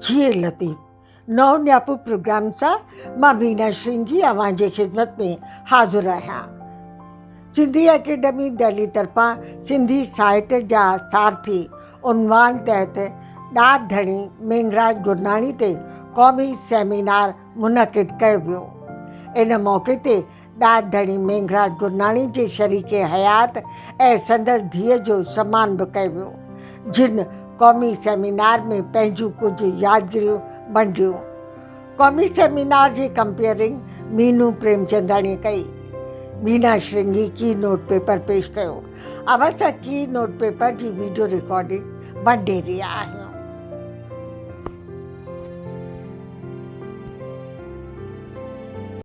جي لطيف نو نياپو پروگرام سان مان بينا شرنگي اوهان جي خدمت ۾ حاضر آهيان سنڌي اڪيڊمي دهلي طرفان سنڌي ساهت جا سارٿي عنوان تحت ڏات ڌڻي مينگھراج گرناڻي تي قومي سيمينار منعقد ڪيو ويو. ان موقعي تي ڏات ڌڻي مينگھراج گرناڻي جي شريڪ حيات ۽ سندس ڌيء جو سمان به ڪيو ويو، جن قومي سيمينار ۾ پنهنجون ڪجهه يادگريون ونڊيون. قومي سيمينار جي ڪمپيئرنگ مينو پريمچنداڻيء ڪئي. مينا شرنگي ڪي نوٽ پيپر پيش ڪيو. اوهان سان ڪي نوٽ پيپر جي ويڊيو رڪارڊنگ ونڊي رهيا آهيون.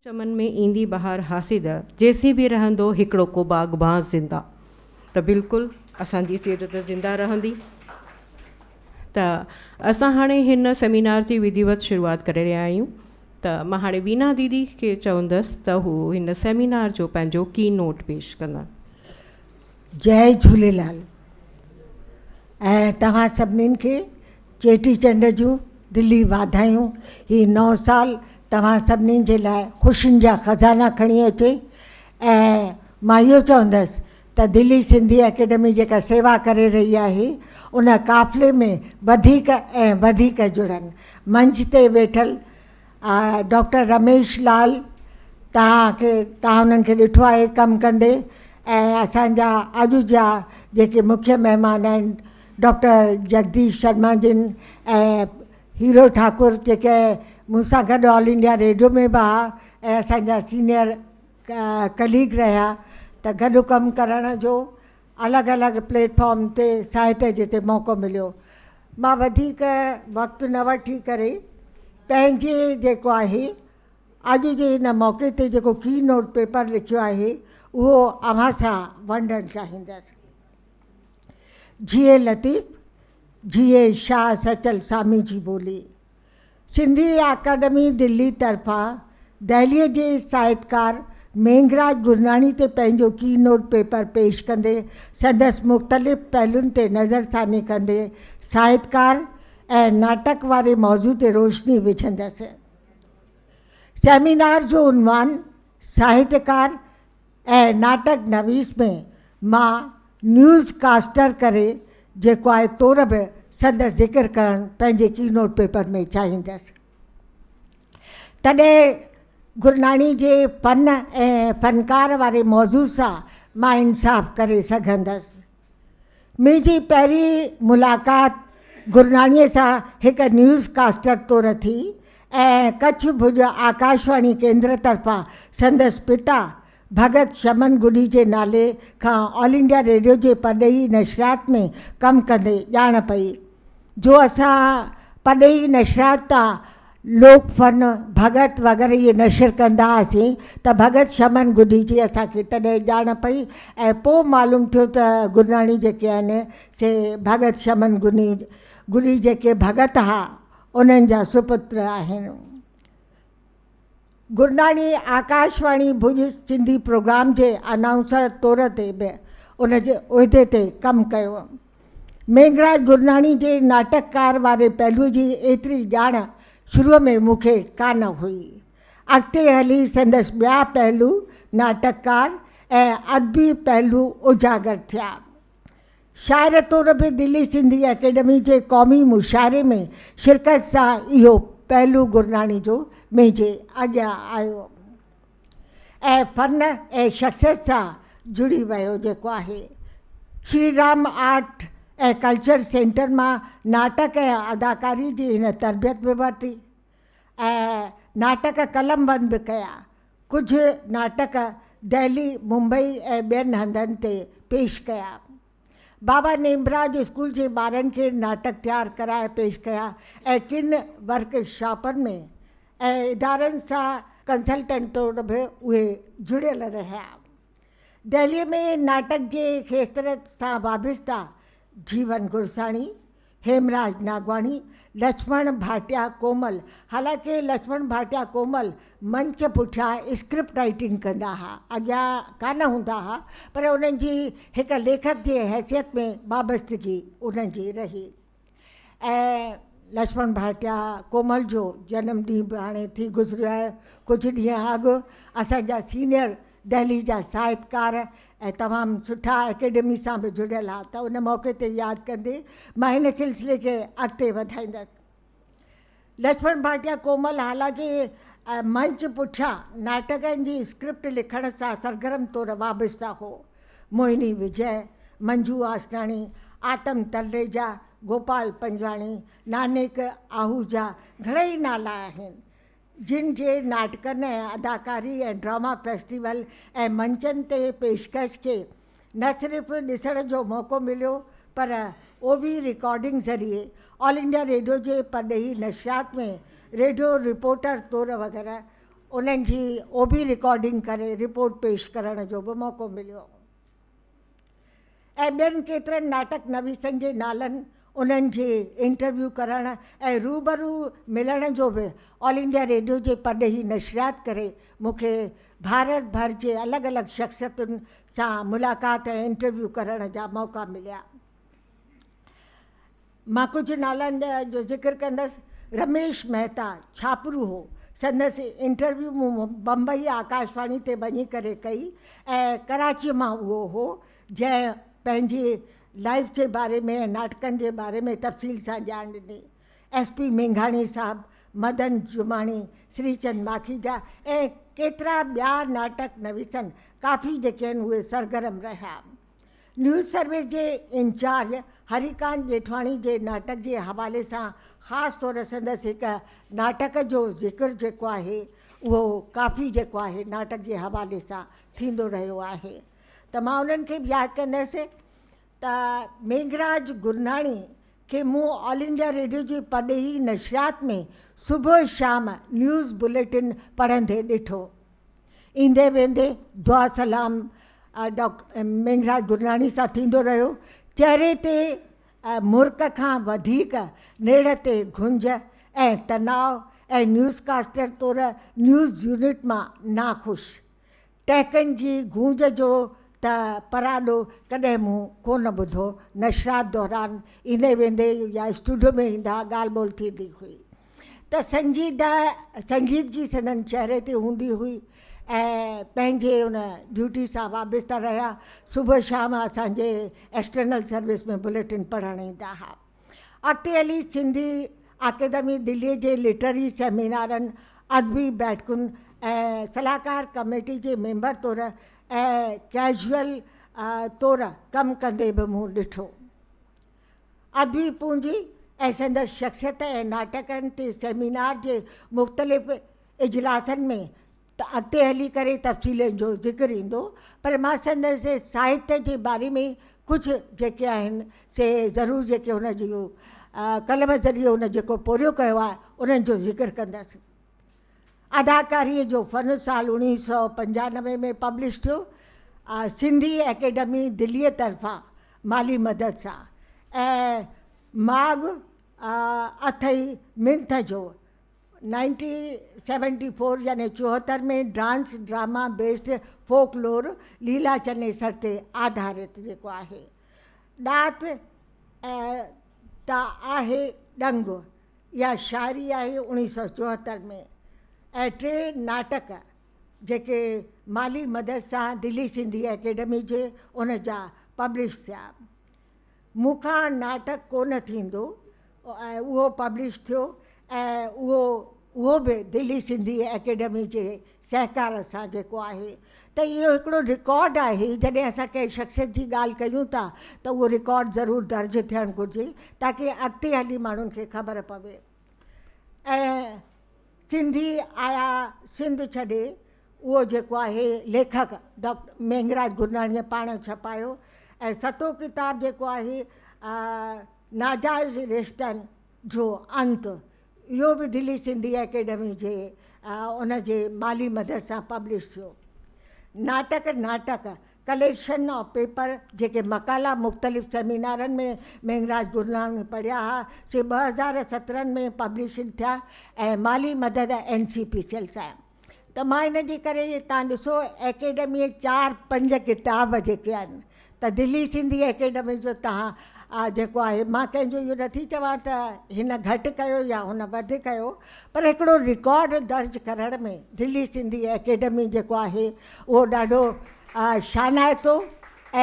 چمن ۾ ايندي بهار حاسد. جيسين به رهندو هڪڙو ڪو باغبان زنده. ته بلڪل اسان جي سيرت زنده رهندي. ته اسان هاڻي هن سيمينار جي وڌيوت شروعات ڪري رهيا آهيون ته مان هاڻي وينا ديدي کي چوندس ته هو هن سيمينار جو پنهنجو ڪي نوٽ پيش ڪندا جئي جھوليلال ۽ توهان سڀنين کي چيٽي چنڊ جون دلي واڌايون هي نئون سال توهان سڀنين جي لاء خوشين جا خزانا کڻي اچي ۽ مان اهو چوندس ته دلي سنڌي اڪيڊمي جيڪا سيوا ڪري رهي آهي ان قافلي ۾ وڌيڪ ۽ وڌيڪ جڙن. منچ تي ويٺل ڊاڪٽر رميش لال توهان کي توهان انهن کي ڏٺو آهي ڪم ڪندي ۽ اسان جا اڄ جا جيڪي مکيه مهمان آهن ڊاڪٽر جگديش شرما جن ۽ هيرو ٺاڪر جيڪي مون سان گڏ آل انڊيا ريڊيو ۾ به هئا ۽ اسان جا سينيئر ڪليگ رهيا ته گڏ ڪم ڪرڻ جو الڳ الڳ پليٽ فارم تي ساهتيه جتي موقعو مليو مان وڌيڪ وقت نه وٺي ڪري پنهنجي جيڪو آهي اڄ جي هن موقعي تي جيڪو ڪي نوٽ پيپر لکيو آهي اهو اوهان سان ونڊڻ چاهيندس جيئي لطيف جيئي شاهه سچل سامي جي ٻولي سنڌي اڪاڊمي دهلي طرفان دهلي جي ساهتڪار مينگهراج گرناڻي تي پنهنجو ڪي نوٽ پيپر پيش ڪندي سندس مختلف پهلون تي نظر ثاني ڪندي ساهتڪار ۽ ناٽڪ واري موضوع تي روشني وجهندس. سيمينار جو عنوان ساهتڪار، ۽ ناٽڪ نويس ۾ مان نيوز ڪاسٽر ڪري جيڪو آهي طور به سندس ذڪر ڪرڻ پنهنجي ڪي نوٽ پيپر ۾ چاهيندس. تڏهن گرناڻي جي فن ۽ فنڪار واري موضوع سان مان انصاف ڪري سگهندس. منهنجي پهرين ملاقات گرناڻيء سان هڪ نيوز ڪاسٽر طور ٿي ۽ ڪڇ ڀڄ آڪاشواڻي ڪيندر طرفان سندس پتا ڀڳت شمن گڏي جي نالي کان آل انڊيا ريڊيو جي پرڏيهي نشريات ۾ ڪم ڪندي ڄاڻ پئي جو اسان پرڏيهي نشريات تان لوڪ فن، ڀڳت وغيره اهي نشر ڪندا هئاسين ته ڀڳت شمن گڊي جي اسان کي تڏهن ڄاڻ پئي ۽ پوء معلوم ٿيو ته گرناڻي جيڪي آهن سي ڀڳت شمن گڊي جيڪي ڀڳت ها انهن جا سپتر آهن. گرناڻي آڪاشواڻي ڀڄ سنڌي پروگرام جي انائونسر طور تي به ان جي عهدي تي ڪم ڪيو. مينگھراج گرناڻي جي ناٽڪڪار واري پهلو جي ايتري ڄاڻ شروع ۾ مون کي ڪانه هئي. اڳتي هلي سندس ٻيا پهلو ناٽڪڪار ۽ ادبي پهلو اجاگر ٿيا. شاعر طور به دلي سنڌي اڪيڊمي جي قومي مشاعري ۾ شرڪت سان اهو پهلو گرناڻي جو منهنجي اڳيان آيو ۽ فن ۽ شخصيت سان جڙي ويو جيڪو آهي Shri Ram art ۽ culture centre مان ناٽڪ ۽ اداڪاري جي هن تربيت به ورتي ۽ ناٽڪ قلمبند به ڪيا. ڪجهه ناٽڪ دهلي، ممبئي ۽ ٻين هنڌن تي پيش ڪيا. بابا نيمراج اسڪول جي ٻارن کي ناٽڪ تيار ڪرائي پيش ڪيا ۽ ڪن ورڪ شاپن ۾ ۽ ادارن سان ڪنسلٽنٽ طور به اهي جڙيل رهيا. دهلي ۾ ناٽڪ جي کيتر سان وابسته جيون گرساڻي، هيمراج ناگواڻي، لڇمڻ ڀاٽيا ڪومل، حالانڪه لڇمڻ ڀاٽيا ڪومل منچ پٺيان اسڪرپٽ رائيٽنگ ڪندا ها، اڳيان ڪانه هوندا ها، پر انهن جي هڪ ليکڪ جي حيثيت ۾ وابستگي انهن جي رهي ۽ لڇمڻ ڀاٽيا ڪومل جو جنم ڏينهن به هاڻي ٿي گذريو آهي ڪجهه ڏينهن اڳ اسان جا سينيئر دهلي جا ساهتڪار ۽ تمام سٺا اڪيڊمي سان به جڙيل ها ته ان موقعي تي ياد ڪندي مان هن سلسلي کي اڳتي وڌائيندس. لڇمڻ ڀاٽيا ڪومل هالڪي ۽ منچ پٺيان ناٽڪن جي اسڪرپٽ لکڻ سان سرگرم طور وابسته هو. موهني وجئه، منجو آسراڻي، آتم تلريجا، گوپال پنجواڻي، نانيڪ آهوجا گهڻائي نالا آهن. جن جي ناٽڪن ۽ اداڪاري ۽ ڊراما فيسٽيول ۽ منچن تي پيشڪش کي نه صرف ڏسڻ جو موقعو مليو پر او وي رڪارڊنگ ذريعي آل انڊيا ريڊيو جي پرڏيهي نشريات ۾ ريڊيو رپورٽر طور وغيره انهن جي او وي رڪارڊنگ ڪري رپورٽ پيش ڪرڻ جو به موقعو مليو. ۽ ٻين ڪيترن ناٽڪ نويسن جي نالن، انهن جي انٽرويو ڪرڻ ۽ روبرو ملڻ جو به آل انڊيا ريڊيو جي پرڏيهي نشريات ڪري مون کي ڀارت ڀر جي الڳ الڳ شخصيتن سان ملاقات ۽ انٽرويو ڪرڻ جا موقعا مليا. مان ڪجهه نالن جو ذڪر ڪندس، رميش مهتا ڇاپرو هو، سندس انٽرويو مون بمبئي آڪاشواڻي تي وڃي ڪري ڪئي ۽ ڪراچيء مان اهو هو، جنهن پنهنجي لائيف جي باري ۾ ۽ ناٽڪن جي باري ۾ تفصيل سان ڄاڻ ڏني. ايس پي مينگهاڻي صاحب، مدن جماڻي، سري چند ماکيجا ۽ ڪيترا ٻيا ناٽڪ نويسن ڪافي جيڪي آهن اهي سرگرم رهيا. نيوز سروس جي انچارج هريڪانت ڄيٺواڻي جي ناٽڪ جي حوالي سان خاص طور سندس هڪ ناٽڪ جو ذڪر جيڪو آهي اهو ڪافي جيڪو آهي ناٽڪ جي حوالي سان ٿيندو رهيو آهي ته مان انهن کي به ياد ڪندس ته ميگھراج گرناڻي کي مون آل انڊيا ريڊيو جي پرڏيهي نشريات ۾ صبح شام نيوز بليٽن پڙهندي ڏٺو. ايندي ويندي دعا سلام ڊاڪٽر مينگھراج گرناڻي سان ٿيندو رهيو. چهري تي مرڪ کان وڌيڪ نيڙهه تي گهنج ۽ تناء ۽ نيوز ڪاسٽر طور نيوز يونٽ مان ناخوش ٽهڪن جي گونج جو ته پراڏو ڪڏهن مون ڪونه ٻڌو. نشرات دوران ايندي ويندي يا اسٽوڊيو ۾ ايندا ڳالهه ٻولهه ٿيندي هئي. ته سنجيده سنجيدگي سندن چهري تي هوندي هئي ۽ پنهنجي ان ڊيوٽي سان وابسته رهيا صبح شام اسان جي ايڪسٽرنل سروس ۾ بليٽن پڙهڻ ايندا ها اڳتي هلي سنڌي اڪيدمي دلي جي لٽرري سيمينارن ادبي بيٺڪن ۽ صلاحڪار ڪميٽي جي ميمبر طور ۽ ڪيزوئل طور ڪم ڪندي به مون ڏٺو. ادبي پونجي ۽ سندس شخصيت ۽ ناٽڪن تي سيمينار جي مختلف اجلاسن ۾ ته اڳتي هلي ڪري تفصيلن جو ذڪر ايندو پر مان سندس ساهتيه جي باري ۾ ڪجهه جيڪي آهن سي ضرور جيڪي هن جي قلم ذريعي هن جيڪو پورهيو ڪيو آهي انهن جو ذڪر ڪندس. اداڪاريء جو فن سال اڻويهه سؤ پنجانوي ۾ پبلش ٿيو آ سنڌي اڪيڊمي دليء طرفان مالي مدد سان ۽ ماڳ اٿئي منٿ جو يعني چوهتر ۾ dance drama based folklore Leela Chanesar تي آڌارت جيڪو آهي ڏات ته آهي ڏنگ. اها شاعري آهي اوڻيهه سؤ چوهتر ۾ ۽ ٽي ناٽڪ جيڪي مالي مدد سان دلي سنڌي اڪيڊمي جي ان جا پبلش ٿيا. مون کان ناٽڪ ڪو نه ٿيندو اهو پبلش ٿيو ۽ اهو اهو به دلي سنڌي اڪيڊمي جي سهڪار سان جيڪو آهي ته اهو هڪڙو رڪارڊ آهي جڏهن اسان ڪنهن شخصيت جي ڳالهه ڪيون ٿا ته اهو رڪارڊ ضرور درج ٿيڻ گهرجي تاڪي اڳتي هلي ماڻهن کي خبر پوي ۽ سنڌي آيا سنڌ ڇڏي اهو جيڪو آهي ليکڪ ڊاڪٽر مينگهراج گرناڻيء پاڻ ڇپايو ۽ ستون ڪتاب جيڪو آهي ناجائز رشتن جو انت اهو به دلي سنڌي اڪيڊمي جي ان جي مالي مدد سان پبلش ٿيو. ناٽڪ، ناٽڪ، ڪليڪشن آف پيپر، جيڪي مقالا مختلف سيمينارن ۾ مينگھراج گرناڻي پڙهيا ها، سي ٻه هزار سترهن ۾ پبلشڊ ٿيا ۽ مالي مدد اين سي پي سيل سان. ته مان ان جي ڪري تان ڏسو اڪيڊمي چار پنج ڪتاب جيڪي آهن ته دلي سنڌي اڪيڊمي جو تهان جيڪو آهي مان ڪنهن جو اهو نٿي چوان ته هن گهٽ ڪيو يا هن وڌ ڪيو پر هڪڙو رڪارڊ درج ڪرڻ ۾ دلي سنڌي اڪيڊمي جيڪو آهي اهو ڏاڍو شانائتو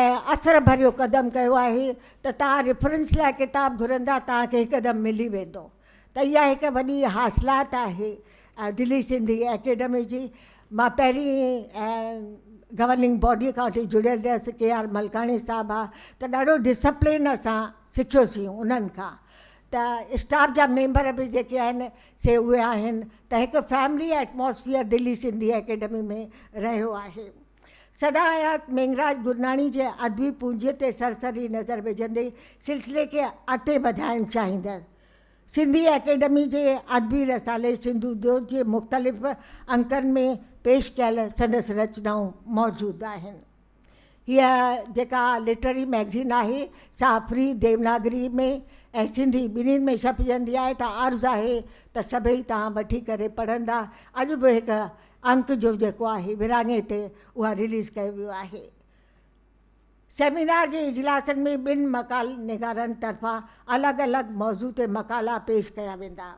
۽ اثر ڀريو قدم ڪيو آهي ته تهان ريفرنس لاء ڪتاب گهرندا تهان کي هڪدم ملي ويندو ته اها هڪ وڏي حاصلات آهي دلي سنڌي اڪيڊمي جي مان پهرين گورننگ باڊي کان وٺي جڙيل رهيس ڪي آر ملڪاڻي صاحب آ ته ڏاڍو ڊسپلين اسان سکيوسين انهن کان ته اسٽاف جا ميمبر به جيڪي آهن سي اهي آهن ته هڪ family atmosphere Delhi Sindhi academy ۾ رهيو آهي سدا حيات مينگھراج گرناڻي جي ادبي پونجيء تي سرسري نظر وجھندي سلسلي کي اڳتي وڌائڻ چاهيندس. سنڌي اڪيڊمي جي ادبي رسالي سنڌو دوت جي مختلف انڪن ۾ پيش ڪيل سندس رچنائون موجود آهن. هيء جيڪا لٽرري مئگزين آهي سا فري ديوناگري ۾ ۽ سنڌي ٻنهين ۾ ڇپجندي آهي ته عرض آهي ته سڀئي توهان وٺي ڪري پڙهندا. اڄ به هڪ انڪ جو جيڪو آهي ورهاڱي تي اها رليز ڪيو ويو آهي. سيمينار جي اجلاسن ۾ ٻن مقال نگارن طرفان الڳ الڳ موضوع تي مقالا پيش ڪيا ويندا.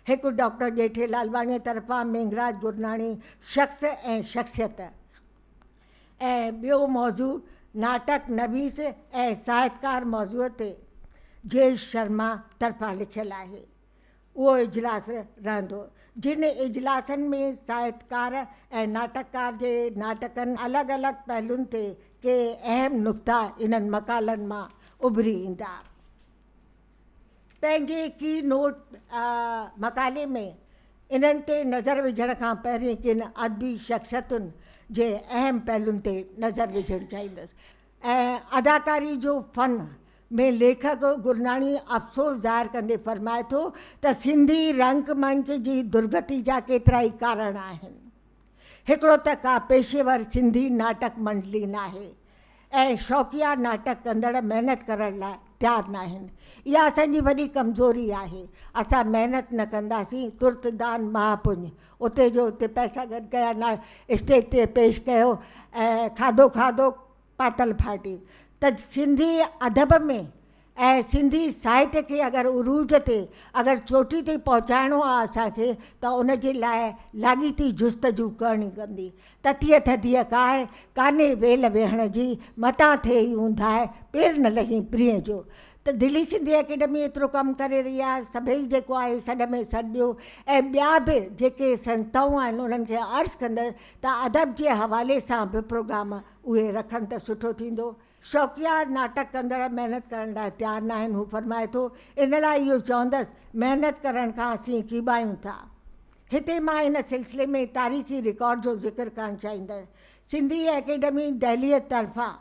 هڪ ڊاڪٽر ڄيٺي لالواڻيء طرفان مينگھراج گرناڻي شخص ۽ شخصيت ۽ ٻيو موضوع ناٽڪ نويس ۽ ساهتڪار موضوع تي جئيش شرما طرفان لکيل آهي. اهو اجلاس رهندو، جن اجلاسن ۾ ساهتڪار ۽ ناٽڪڪار جي ناٽڪن الڳ الڳ پهلون تي ڪي اهم نقطا انهن مقالن مان اڀري ايندا. پنهنجي ڪي نوٽ مقالي ۾ انهن تي نظر وجهڻ کان پهرين ڪن ادبي شخصيتن جي اهم پهلون تي نظر وجهڻ چاهيندس. ۽ اداڪاري جو فن ۾ ليکڪ گرناڻي افسوس ظاهر ڪندي فرمائي ٿو ته سنڌي رنگ منچ جي درگتي جا ڪيترائي ڪارڻ آهن. هڪڙو ته ڪا پيشيور سنڌي ناٽڪ منڊلي ناهي ۽ شوقيا ناٽڪ ڪندڙ محنت ڪرڻ لاء تيار ناهن. اها اسان جي وڏي ڪمزوري آهي. اسان محنت نه ڪنداسين ترت دان مهاپڃ اتي جو اتي پئسا گڏ ڪيا نا اسٽيج تي پيش ڪيو ۽ کاڌو کاڌو پاتل ڦاٽي ته سنڌي ادب ۾ ۽ سنڌي ساهت کي اگر عروج تي اگر چوٽي تي پهچائڻو آ اسان کي ته ان جي لاء لاڳيتي جستجو ڪرڻي پوندي تتيء ٿڌيء ڪاهه ڪانهي ويل ويهڻ جي متان ٿئي اونداهه پير نه لهين پرينء جو ته دهلي سنڌي اڪيڊمي ايترو ڪم ڪري رهي آهي سڀئي جيڪو آهي سڏ ۾ سڏ ڏيو ۽ ٻيا به جيڪي سنستائون آهن انهن کي عرض ڪندس ته ادب جي حوالي سان به پروگرام اهي رکن ته سٺو ٿيندو. شوقيا ناٽڪ ڪندڙ محنت ڪرڻ لاء تيار ناهن هو فرمائي ٿو ان لاء اهو چوندس محنت ڪرڻ کان اسين ڪيٻايون ٿا هتي مان ان سلسلي ۾ تاريخي رڪارڊ جو ذڪر ڪرڻ چاهيندس سنڌي اڪيڊمي دهلي طرفان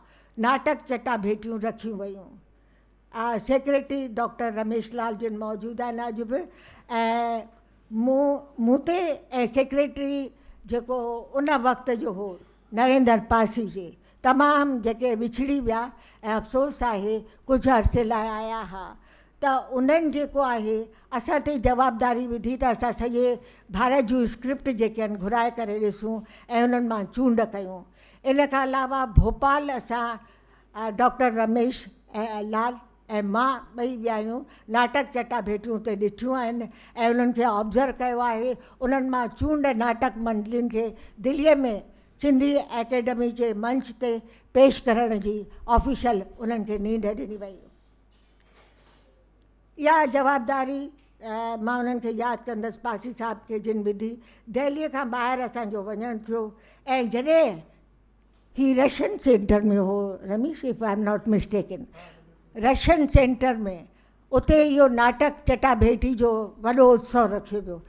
ناٽڪ چٽاڀيٽيون رکيون ويون. آء سيڪريٽري ڊاڪٽر رميش لال جن موجود آهن اڄ به ۽ مون مون تي ۽ سيڪريٽري جيڪو ان وقت جو هو نريندر پاسي جي تمام جيڪي وڇڙي ويا ۽ افسوس آهي ڪجهه عرصي لاء آيا ها ته انهن جيڪو آهي اسان تي جوابداري وڌي ته اسان سڄي ڀارت جون اسڪرپٽ جيڪي آهن گهرائي ڪري ڏسون ۽ انهن مان چونڊ ڪيون. ان کان علاوه ڀوپال اسان ڊاڪٽر رميش ۽ لال ۽ مان ٻئي ٻيايون ناٽڪ چٽاڀيٽيون اتي ڏٺيون آهن ۽ انهن کي آبزرو ڪيو آهي. انهن مان چونڊ ناٽڪ منڊلين کي دلي ۾ سنڌي اڪيڊمي جي منچ تي پيش ڪرڻ جي آفيشل انهن کي نينڍ ڏني وئي. اها جوابداري مان انهن کي ياد ڪندس پاسي صاحب کي جن وڌي دهليء کان ٻاهر اسان جو وڃڻ ٿيو ۽ جڏهن هي رشن سينٽر ۾ هو Ramesh if I am not mistaken Russian centre ۾ اتي اهو ناٽڪ چٽاڀيٽي جو وڏو اتسو رکيو ويو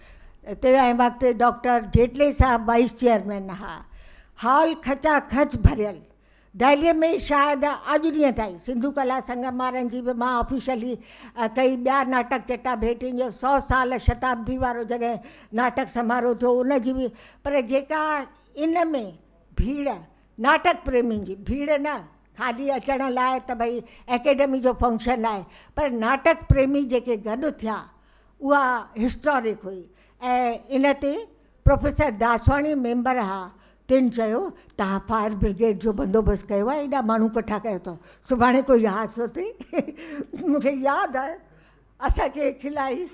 تي ۽ وقت ڊاڪٽر جيٽلي صاحب وائيس چيئرمين ها هال کچا کچ ڀريل دهليء ۾ شايد اڄ ڏينهن تائين سنڌو ڪلا سنگم وارن جي به مان آفيشلي ڪئي ٻيا ناٽڪ چٽا ڀيٽين جو سؤ سال شتابدي وارو جڏهن ناٽڪ سماروه ٿيو ان جي به پر جيڪا ان ۾ ڀيڙ ناٽڪ پريمين جي ڀيڙ نه خالي اچڻ لاء ته ڀئي اڪيڊمي جو فنڪشن آهي پر ناٽڪ پريمي جيڪي گڏ ٿيا اها هسٽارڪ هئي ۽ ان تي پروفيسر داسواڻي ميمبر ها تن چيو توهان فائر برگيڊ جو بندوبست ڪيو آهي ايڏا ماڻهو ڪٺا ڪيو اٿو سڀاڻي ڪوئي حادثو ٿئي مون کي ياد آيو اسان کي کلائي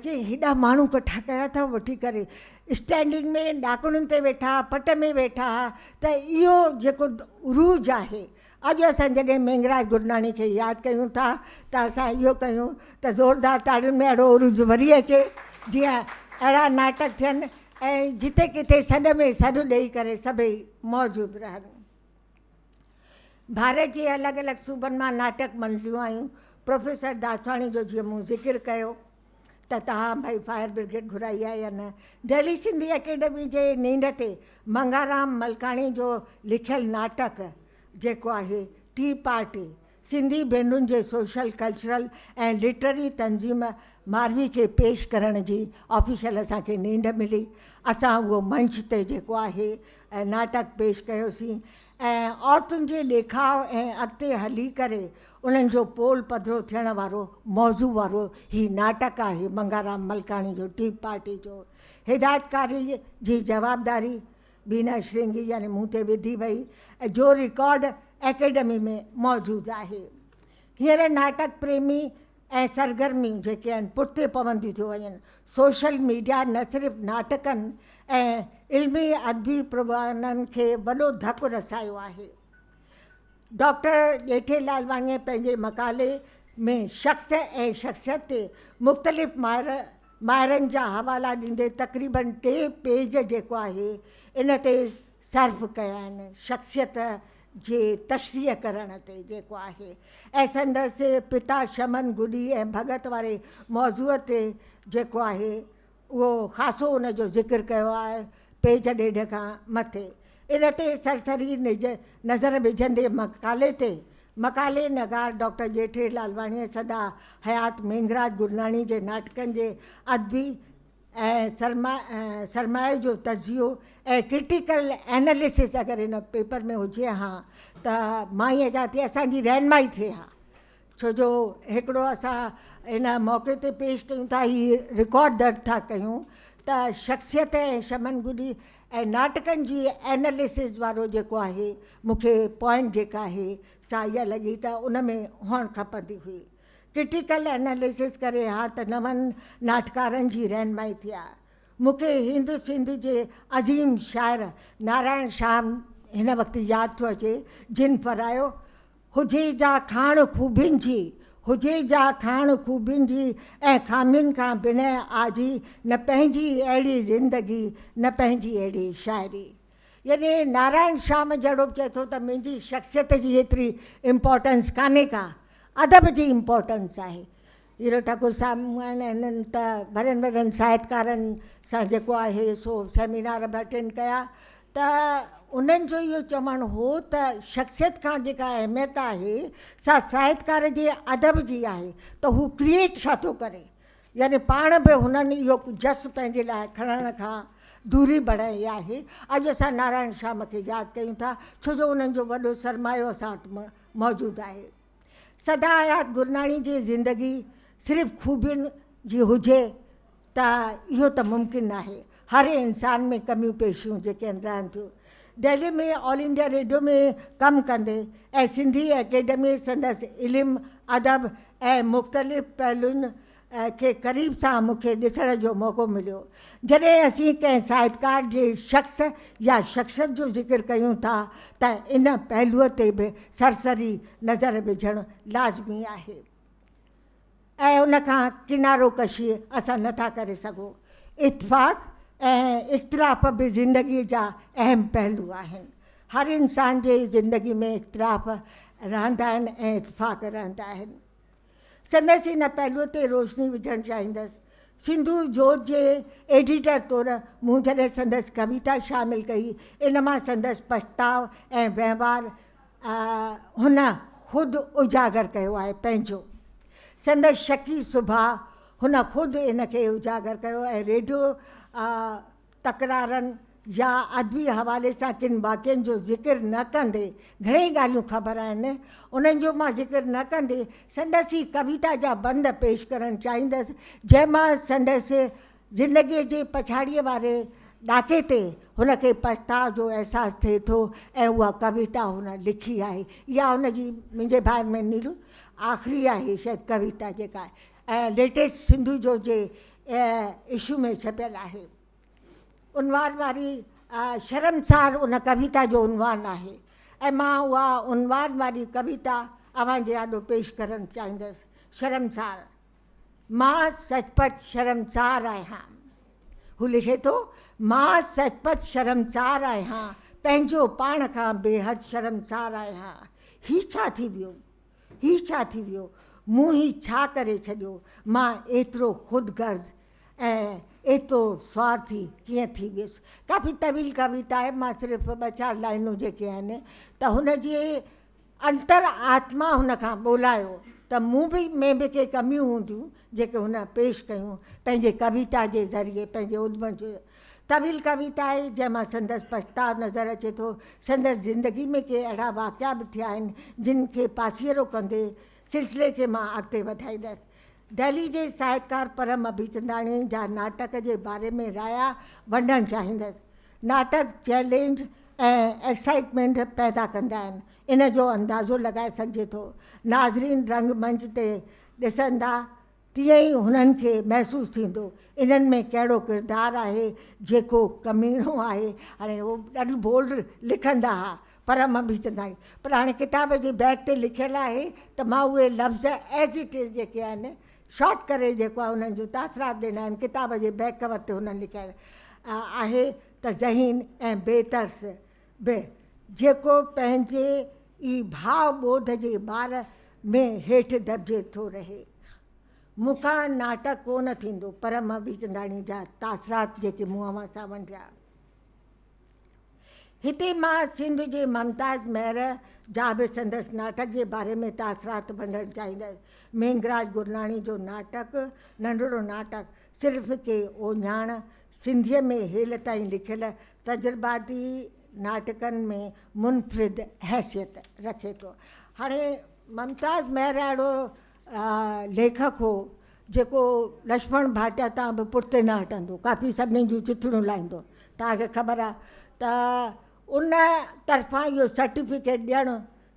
چي ايڏا ماڻهو ڪٺا ڪيا اٿو وٺي ڪري اسٽينڊنگ ۾ ڏاڪڻن تي ويٺا پٽ ۾ ويٺا ته اهو جيڪو عروج آهي اڄ اسان جڏهن مينگھراج گرناڻي کي ياد ڪيون ٿا ته اسان اهو ڪيون ته زوردار تاڙين ۾ اهڙو عروج وري اچي جيئن اهڙا ناٽڪ ٿين ۽ جتي ڪٿي سڏ ۾ سڏ ڏئي ڪري سڀئي موجود رهن. ڀارت جي الڳ الڳ صوبن مان ناٽڪ منڊليون آيون، پروفيسر داسواڻي جو جيئن مون ذڪر ڪيو. ته تهان ڀئي فائر برگيڊ گهرائي آهي يا نه؟ دهلي سنڌي اڪيڊمي جي نينڍ تي منگهارام ملڪاڻي جو لکيل ناٽڪ جيڪو آهي ٽي پارٽي سنڌي ڀينرن جي سوشل ڪلچرل ۽ لٽرري تنظيم ماروي کي پيش ڪرڻ جي آفيشل اسان کي نينڍ ملي اسان اهو منچ تي جيڪو آهي ناٽڪ پيش ڪيوسين ۽ عورتن جي ڏيکاء ۽ اڳتي هلي ڪري انهن جو پول پڌرو ٿيڻ وارو موضوع وارو هي ناٽڪ آهي منگهارام ملڪاڻي جو ٽي پارٽي جو هدايتڪاري جي جوابداري بينا شرنگي يعني مون تي وڌي وئي جو رڪارڊ اڪيڊمي ۾ موجود آهي هينئر ناٽڪ پريمي ۽ سرگرميون جيڪي آهن پٺتي پونديون ٿيون وڃن، سوشل ميڊيا نه صرف ناٽڪن ۽ علمي ادبي پروگرامن کي وڏو ڌڪ رسايو آهي. ڊاڪٽر ڄيٺي لالواڻيء پنهنجي مقالي ۾ شخص ۽ شخصيت تي مختلف ماهرن جا حوالا ڏيندي تقريباً ٽي پيج جيڪو آهي ان تي صرف ڪيا آهن، شخصيت، جي تشريح ڪرڻ تي جيڪو آهي ۽ سندس پتا شمن گڏي ۽ ڀڳت واري موضوع تي جيڪو آهي اهو خاصو ان جو ذڪر ڪيو آهي پيج ڏيڍ کان مٿي ان تي سرسري نظر وجهندي مقالي تي مقالي نگار ڊاڪٽر ڄيٺي لالواڻيء سدا حيات مينگھراج گرناڻي جي ناٽڪن جي ادبي ۽ سرمائي جو تجزيو ۽ ڪرٽيڪل ايناليسس اگر ان پيپر ۾ هجي ها ته مان ائين چوان ٿي اسان جي رهنمائي ٿئي ها ڇو جو هڪڙو اسان ان موقعي تي پيش ڪيون ٿا هي رڪارڊ درج ٿا ڪيون ته شخصيت ۽ شمن گڏي ۽ ناٽڪن جي ايناليسس وارو جيڪو آهي مون کي پوائنٽ جيڪا آهي سا اها لڳي ته ان ۾ هئڻ کپندي هئي ڪرٽيڪل اناليسس ڪري ها ته نون ناٽڪارن جي رهنمائي ٿئي ها. مون کي هند سنڌ جي عظيم شاعر نارائڻ شام هن وقت ياد ٿو اچي جن پرايو هجي جا کاڻ خوبين جي، هجي جا کاڻ خوبين جي ۽ خامين کان بنهه آجي نه پنهنجي اهڙي زندگي نه پنهنجي اهڙي شاعري. يعني نارائڻ شام جهڙو به چئي ٿو ته منهنجي شخصيت جي ايتري امپورٽنس ڪانهي ڪا، ادب جي امپورٽنس آهي. هيرو ٺاڪر صاحب مون آهن هنن ته وڏن وڏن ساهتڪارن سان جيڪو آهي سو سيمينار به اٽينڊ ڪيا ته انهن جو اهو چوڻ هو ته شخصيت کان جيڪا اهميت آهي سا ساهتڪار جي ادب جي آهي ته هو ڪريئيٽ ڇا ٿو ڪري. يعني پاڻ به هنن اهو جس پنهنجي لاء کڻڻ کان دوري بڻائي آهي. اڄ اسان نارائڻ شيام کي ياد ڪيون ٿا، ڇو جو انهن جو وڏو سرمايو اسان وٽ موجود آهي. سدا حيات گرناڻي جي زندگي صرف خوبين جي هجي ته اهو ته ممڪن ناهي. هر انسان ۾ ڪميون پيشيون جيڪي آهن رهن ٿيون. دهلي ۾ آل انڊيا ريڊيو ۾ ڪم ڪندي ۽ سنڌي اڪيڊمي سندس علم، ادب ۽ مختلف پهلوئن کي قريب سان مون کي ڏسڻ جو موقعو مليو. جڏهن اسين ڪنهن ساهتڪار جي شخص يا شخصيت جو ذڪر ڪيون ٿا ته ان پهلوء تي به سرسري نظر وجهڻ لازمي آهي. ۽ ان کان ڪنارو ڪشي اسان نه ٿا ڪري سگهون. اتفاق ۽ اختلاف به زندگيء جا اهم پهلو آهن. هر انسان جي زندگي ۾ اختلاف رهندا آهن ۽ اتفاق رهندا آهن. سندس ان پهلوء تي روشني وجهڻ چاهيندس. سنڌو جوت جي ايڊيٽر طور مون جڏهن سندس ڪويتا شامل ڪئي، ان مان سندس پڇتاء ۽ وهنوار هن خود اجاگر ڪيو آهي پنهنجو سندس شڪي سڀاء هن خود ان کي اجاگر ڪيو ۽ ريڊيو تڪرارن يا ادبي حوالي سان ڪن واقعن جو ذڪر نه ڪندي گهڻيئي ڳالهيون خبر آهن انهن جو مان ذڪر نه ڪندي سندس ئي ڪويتا جا بند پيش ڪرڻ چاهيندس جنهن مان سندس زندگيء جي پڇاڙيء واري ڏاڪي تي هن کي پڇتاء جو احساس ٿئي ٿو ۽ اها ڪويتا هن لکي آهي. اها هن جي منهنجي ڀائر ۾ نيرو آخري آهي شايد ڪويتا جيڪا ليٽيسٽ سنڌو جو جي اشو ۾ ڇپيل آهي. عنوان واري شرمسار ان ڪويتا جو عنوان آهي ۽ مان اها عنوان واري ڪويتا اوهان جي آڏو پيش ڪرڻ چاهيندس. شرمسار مان سچ پچ شرمسار آهيان. هو لکي ٿو، مان سچ پچ شرمسار آهيان، پنهنجو پاڻ کان بيحد شرمسار آهيان. هي ڇا ٿي ويو؟ هي ڇا ٿي ويو؟ مون هي ڇا ڪري ڇڏيو؟ مان ايترو خود غرض ۽ ايترو سوارٿي ڪيئن ٿي ويس؟ ڪافي طويل ڪويتا آهي، مان صرف ٻه چار لائنون جيڪي آهن ته هن جي انتر آتما هن کان ٻولايو ته مون به ۾ به ڪي ڪميون هونديون جيڪي هن پيش ڪيون پنهنجي ڪويتا جي ذريعي پنهنجي ادم جو طويل ڪويتا آهي جنهن مان سندس پڇتاء نظر اچي ٿو سندس زندگي ۾ ڪي اهڙا واقعا به ٿيا آهن جن کي پاسيرو ڪندي سلسلي کي مان اڳتي وڌائيندس دهلي جي ساهتڪار پرم ابيچنداڻي جا ناٽڪ جي باري ۾ رايا ونڊڻ چاهيندس. ناٽڪ چئلينج ۽ ايڪسائيٽمينٽ پيدا ڪندا آهن ان جو اندازو لڳائي سگهجي ٿو. ناظرين رنگ منچ تي ڏسندا تيئن ئي هنن کي محسوس ٿيندو انهن ۾ ڪهڙو ڪردار آهي جيڪو ڪميڻو آهي. هاڻي هو ڏاڍي بولڊ لکندا ها. پر امان به چنداڻي پراڻي ڪتاب جي بيڪ تي لکيل آهي ته مان اهي لفظ As it is جيڪي آهن شارٽ ڪري جيڪو آهي انهن جون تاثرات ڏنا آهن ڪتاب جي بيڪ ڪور تي هنن لکيل آهي ته ذهين ۽ بي ترس به جيڪو پنهنجي ئي ڀاء ٻوڌ جي ٻار ۾ هيٺ دٻجي ٿو رهي مون کان ناٽڪ ڪو نه ٿيندو پر امان به چنداڻي جا تاثرات جيڪي مون اوهان سان ونڊيا. هتي مان سنڌ جي ممتاز مهر جا به سندس ناٽڪ جي باري ۾ تاثرات ونڊڻ چاهيندس. مينگهراج گرناڻي جو ناٽڪ ننڍڙو ناٽڪ صرف ڪي اوڄاڻ سنڌيء ۾ هيل تائين لکيل تجرباتي ناٽڪن ۾ منفرد حيثيت رکي ٿو. هاڻي ممتاز مهر اهڙو ليکڪ هو جيڪو لڇمڻ ڀاٽيا تان به پٺتي نه هٽندو ڪافي سڀني جون چٿڙيون لائيندو توهان کي خبر آ ته ان طرفان اهو سرٽيفڪيٽ ڏيڻ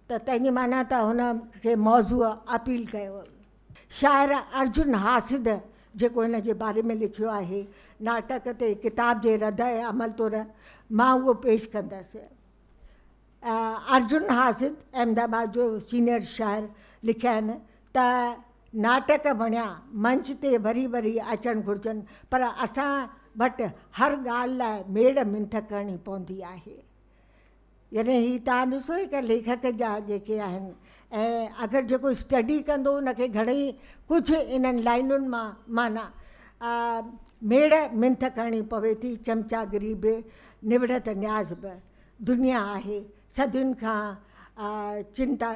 ته تنهنجي معنيٰ ته هن کي موضوع اپيل ڪيو شاعر ارجن حاسد جيڪو هن جي باري ۾ لکيو آهي ناٽڪ تي ڪتاب جي رد عمل طور مان اهو پيش ڪندس. ارجن حاسد احمد آباد جو سينئر شاعر لکين ته ناٽڪ بڻيا منچ تي وري وري اچڻ گهرجن پر اسان وٽ هر ڳالهه لاء ميڙ منٿ ڪرڻي پوندي آهي يعني هي تان ڏسو هڪ ليکڪ جا جيڪي آهن ۽ اگر جيڪو اسٽڊي ڪندو ان کي گهڻي ڪجهه انهن لائنن مان معنيٰ ميڙ منٿ ڪرڻي پوي ٿي چمچاگري به نوڙت نياز به دنيا آهي صدين کان چنتا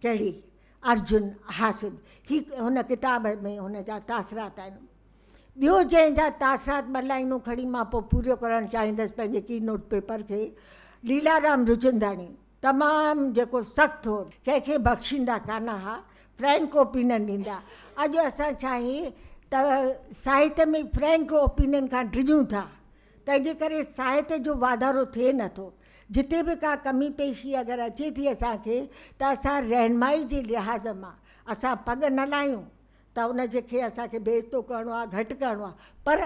ڪهڙي. ارجن حاسد هي هن ڪتاب ۾ هن جا تاثرات آهن. ٻيو جنهن جا تاثرات ٻه لائنون کڻي مان پوء پوريو ڪرڻ چاهيندس پنهنجي ڪي نوٽ پيپر کي ليلارام رچنداڻي تمام جيڪو سخت هو ڪنهن کي بخشيندا ڪانه ها فرينڪ اوپينن ڏيندا اڄ اسان ڇاهي ته ساهت ۾ فرينڪ اوپينن کان ڊڄون ٿا تنهنجي ڪري ساهت جو واڌارو ٿئي نه ٿو. جتي به ڪا ڪمي پيشي اگر اچي ٿي اسان کي ته اسان رهنمائي جي لحاظ مان اسان پڳ نه لاهيون ته ان جي کي اسان کي بيعزتو ڪرڻو آهي گهٽ ڪرڻو آهي پر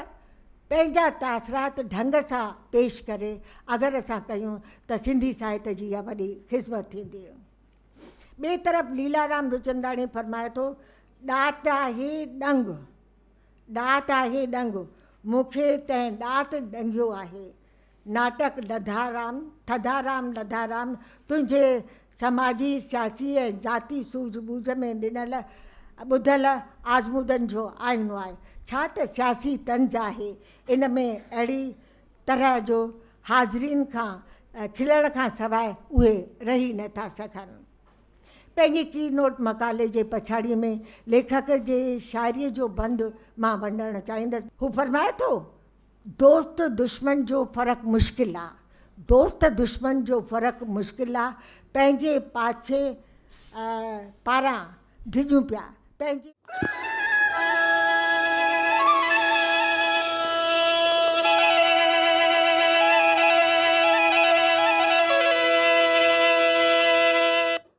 پنهنجا تاثرات ڍنگ سان پيش ڪري اگر اسان ڪيون ته سنڌي ساهت جي اها وڏي خذمت ٿيندي. ٻئي طرف ليلارام روچنداڻي فرمائي ٿو، ڏات آهي ڏنگ. ڏات آهي ڏنگ، مون کي تنهن ڏات ڏنگيو آهي. ناٽڪ لڌارام، ٿڌارام لڌارام، تنهنجي سماجي، سياسي ۽ ذاتي سوجهه ٻوجهه ۾ ڏنل ٻڌل آزمودن جو آئينو آهي. ڇا ته سياسي طنز آهي. ان ۾ اهڙي طرح جو حاضرين کان کلڻ کان سواء اهي رهي نه ٿا سگهن. پنهنجي ڪي نوٽ مقالي جي پڇاڙيء ۾ ليکڪ جي شاعريء جو بند مان ونڊڻ چاهيندس. هو فرمائي ٿو، دوست دشمن جو فرق مشڪل آ، دوست دشمن جو فرق مشڪل آ، پنهنجي پاڇي پاران ڊڄون پيا، پنهنجي.